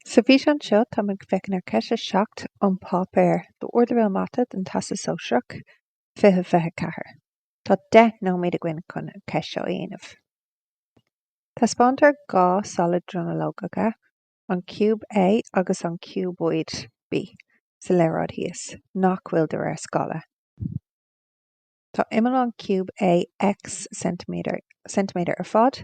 Sa bhfíseán seo, táim ag féachaint ar cheist 7 ón páipéar d'Ardleibhéal Mata don Teastas Sóisearach, 20 24. Tá 10 nóiméad againn chun an cheist seo a dhéanamh. Taispeántar dhá solad dronuilleogacha, an ciúb A agus an ciúbóid B, sa léaráid thíos, nach bhfuil de réir scála. Tá imeall an ciúb A X ceintiméadar ar fad,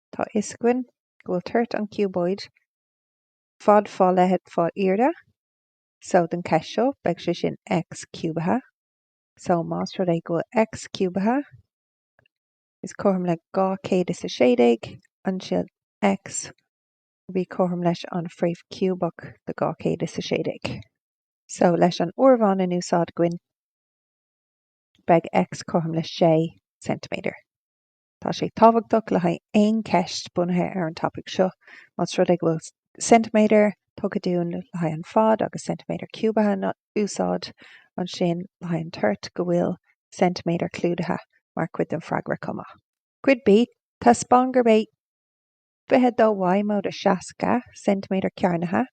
Tá a fhios againn go bhfuil toirt an chiúbóid fad fá leithead fá airde, so don cheist seo beidh sé sin X ciúbaithe. So más rud é go bhfuil X ciúbaithe is cothrom le dhá chéad is a sé déag, ansin X will be cothrom leis an fréamh ciúbach de dhá chéad is a sé déag. So leis an áireamhán in úsáid againn beidh X cothrom le sé ceintiméadar. Tá sé tábhachtach le haghaidh aon cheist bunaithe ar an topaic seo, más rud é go bhfuil ceintiméadar tugtha dúinn le haghaidh an fad agus ceintiméadar ciúbaithe in úsáid, ansin le haghaidh an toirt, go bhfuil ceintiméadar clúdaithe mar chuid den freagra chomh maith. Cuid B, Taispeáin gurb é 22 Y móide 60 ceintiméadar cearnaithe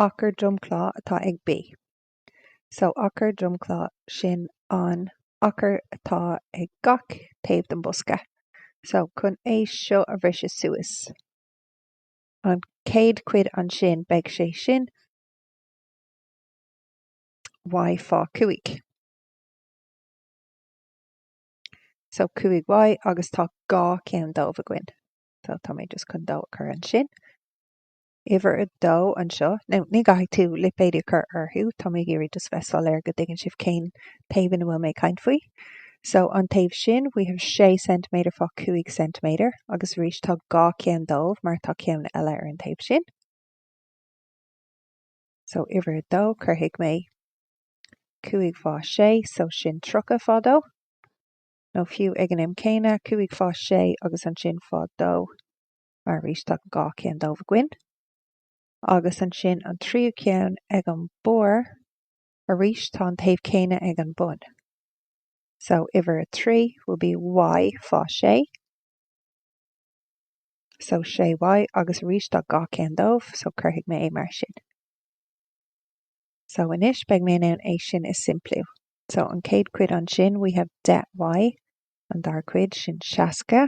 achar dromchla atá ag B. so achar dromchla sin an achar atá ag gach taobh den bosca so chun é seo a bhriseadh suas an chéad chuid ansin beidh sé sin y fá 5 so 5y agus tá dhá cheann dóibh againn so tá mé just chun dó a chur ansin. uimhir a dó anseo, nó ní gcaithfidh tú lipéid a chur orthu, tá mé ag iarraidh just bheith soiléir go dtuigeann sibh cén taobh ina bhfuil mé ag caint faoi. So, an taobh sin, we have sé ceintiméadar fá cúig ceintiméadar, agus arís tá dhá cheann dóibh mar tá ceann eile ar an taobh sin. So, uimhir a dó, cuirfidh mé cúig fá sé, so sin tríocha fá dó, nó fiú ag an am céanna, cúig fá sé agus ansin fá dó. mar arís tá dhá cheann dóibh againn, agus ansin an tríú ceann ag an barr, arís tá an taobh céanna ag an bun. So uimhir a trí will be y fá sé, so sé y, agus arís tá dhá cheann dóibh, so cuirfidh mé é mar sin. So anois beidh mé in ann é sin a simpliú. So an chéad chuid ansin we have deich y, an dara cuid sin seasca,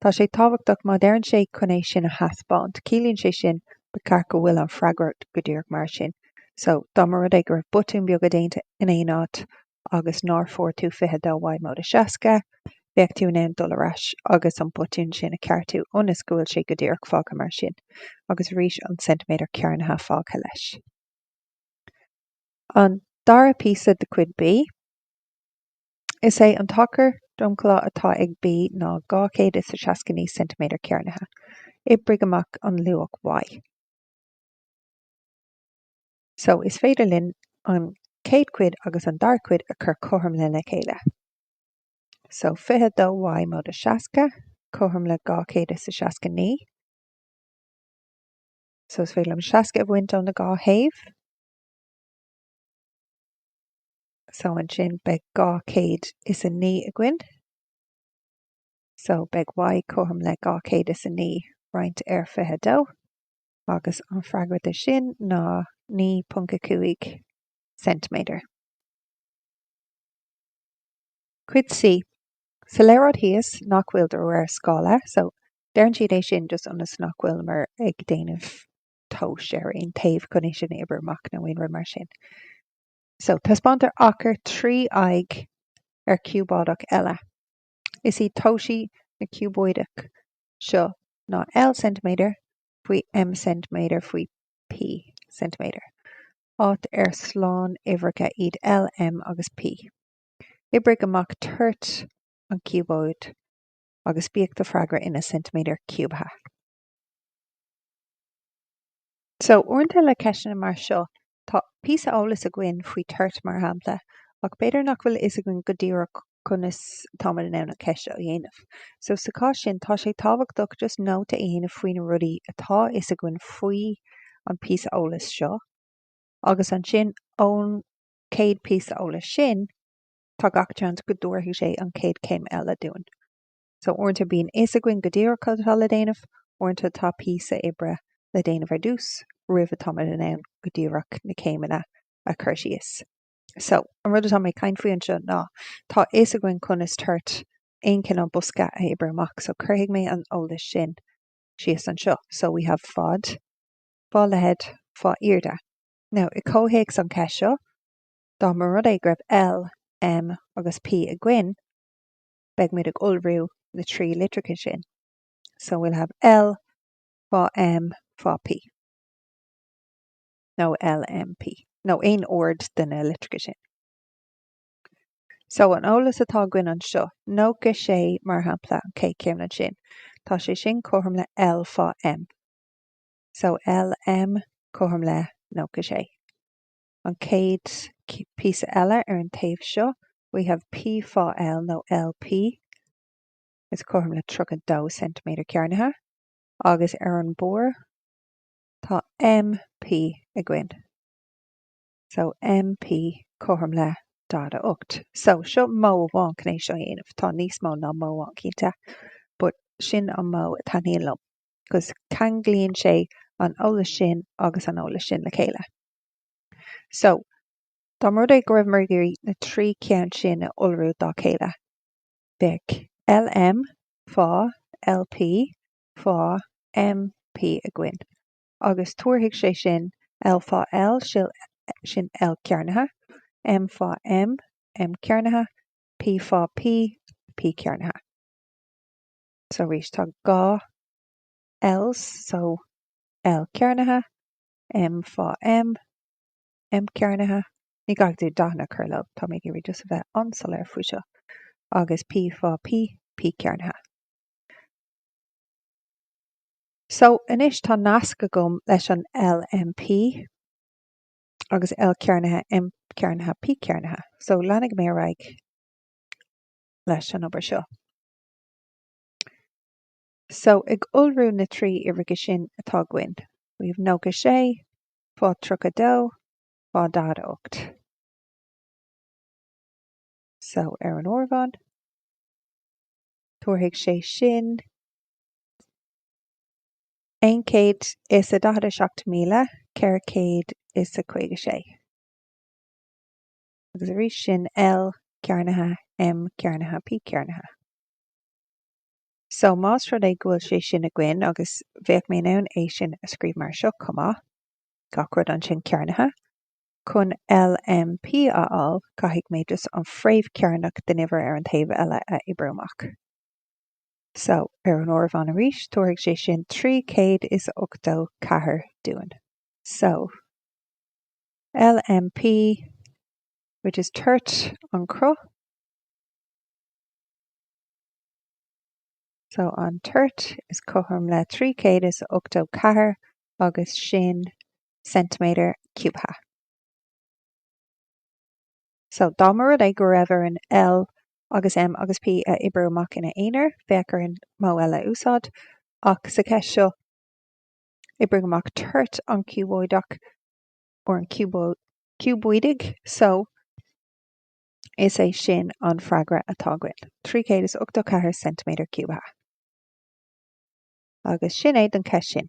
Tá sé tábhachtach má deireann sé chun é sin a thaispeáint. Ciallaíonn sé sin, ba cheart go bhfuil an freagra go díreach mar sin. So, dá mba rud é go raibh botúin beaga déanta in aon áit agus nár fuair tú 22 Y móide 60, bheadh tú in ann dul ar ais agus an botún sin a cheartú ionas go bhfuil sé go díreach fágtha mar sin, agus arís an ceintiméadar cearnaithe fágtha leis. An dara píosa de Chuid B. Is é an t-achar dromchlá atá ag B ná 269 ceintiméadar cearnaithe. Oibrigh amach luach Y. so is féidir linn an chéad chuid agus an dara cuid a chur cothrom lena chéile. so 22Y móide 60, cothrom le 269. so is féidir liom 60 a bhaint ó na dhá thaobh. So ansin beidh 209 againn. So beidh y cothrom le 209 roinnt ar 22. Agus an freagra de sin ná 9.5 ceintiméadar. Cuid C, Sa léaráid thíos nach bhfuil de réir scála, so deireann siad é sin just ionas nach bhfuil muid ag déanamh tomhas ar aon taobh chun é sin a oibriú amach nó aon rud mar sin so taispeántar achar trí aghaidh ar ciúbóideach eile is iad toisí na ciúbóideach seo ná L ceintiméadar faoi M ceintiméadar faoi P ceintiméadar áit ar slánuimhreacha iad L M agus P oibrigh amach toirt an ciúbóid agus bíodh do freagra ina ceintiméadar ciúbaithe. So, uaireanta le ceisteanna mar seo, tá píosa eolas againn faoi toirt, mar shampla, ach b'fhéidir nach bhfuil a fhios againn go díreach conas táimid in ann an cheist seo a dhéanamh. So, sa chás sin, tá sé tábhachtach just nóta a dhéanamh faoi na rudaí atá a fhios againn faoi an píosa eolas seo, agus ansin, ón chéad píosa eolas sin, tá gach seans go dtabharfaidh sé an chéad chéim eile dúinn. So uaireanta bíonn fhios againn go díreach atá le déanamh, uaireanta tá píosa oibre le déanamh ar dtús roimh atáimid in ann go díreach na céimeanna a chur síos. So an rud atá mé ag caint faoi anseo ná tá fhios againn conas toirt aon cineál bosca a oibriú amach so cuirfidh mé an eolas sin síos anseo. So we have fad, fá leithead, fá airde. Now i comhthéacs an cheist seo, dá mba rud é go raibh L, M agus P againn, beidh muid ag iolrú na trí litreacha sin, so we'll have L, fá M, fá P. nó L, M, P. nó aon ord de na litreacha sin. So an eolas atá againn anseo, nócha sé mar shampla, an chéad chéim ansin, tá sé sin cothrom le L, fá M. So L, M, cothrom le nócha sé. an chéad píosa eile ar an taobh seo, we have P fá L nó LP is cothrom le 32 ceintiméadar cearnaithe, agus ar an barr tá MP againn, so MP cothrom le 48. So, seo modh amháin chun é seo a dhéanamh, tá níos mó ná modh amháin cinnte, but sin an modh a taitníonn liom, 'cause ceanglaíonn sé an eolas sin agus an eolas sin le chéile. So, dá mba rud é go raibheamar ag iarraidh na trí cheann sin a iolrú fá chéile, bheadh LM fá LP fá MP againn, agus tabharfaidh sé sin L fá L, sin L cearnaithe, M fá M, M cearnaithe, P fá P, P cearnaithe. So, arís, tá dhá Ls, so, L cearnaithe, M fá M, M cearnaithe, ní gá duit dathanna a chur leo, tá mé ag iarraidh just a bheith an-soiléir faoi seo, agus P fá P, P cearnaithe. So, anois tá nasc agam leis an L M P agus L cearnaithe M cearnaithe P cearnaithe. So, leanfaidh mé ar aghaidh leis an obair seo. So, ag iolrú na trí uimhreacha sin atá againn, we have nócha sé, fá tríocha dó, fá daichead a ocht. So, ar an áireamhán, tabharfaidh sé sin aon chéad is a daichead a seacht míle ceithre chéad is a caoga sé. Agus arís sin L cearnaithe M cearnaithe P cearnaithe. So, más rud é go bhfuil sé sin againn, agus bheadh mé in ann é sin a scríobh mar seo chomh maith, gach rud ansin cearnaithe, chun LMP a fháil, caithfidh mé just an fhréamh chearnach den uimhir ar an taobh eile a oibriú amach. So, ar an áireamhán arís, tabharfaidh sé sin 384 dúinn. So, LMP, which is toirt an chruth. So an toirt is cothrom le 384 agus sin ceintiméadar ciúbtha. So dá mba rud é go raibh orainn L agus M agus P a oibriú amach ina aonar, bheadh orainn modh eile a úsáid, ach sa cheist seo oibrigh amach toirt an ciúbóideach, or an ciúbóidigh, so. Is é sin an freagra atá againn, 384 ceintiméadar ciúbtha. Agus sin é don cheist sin.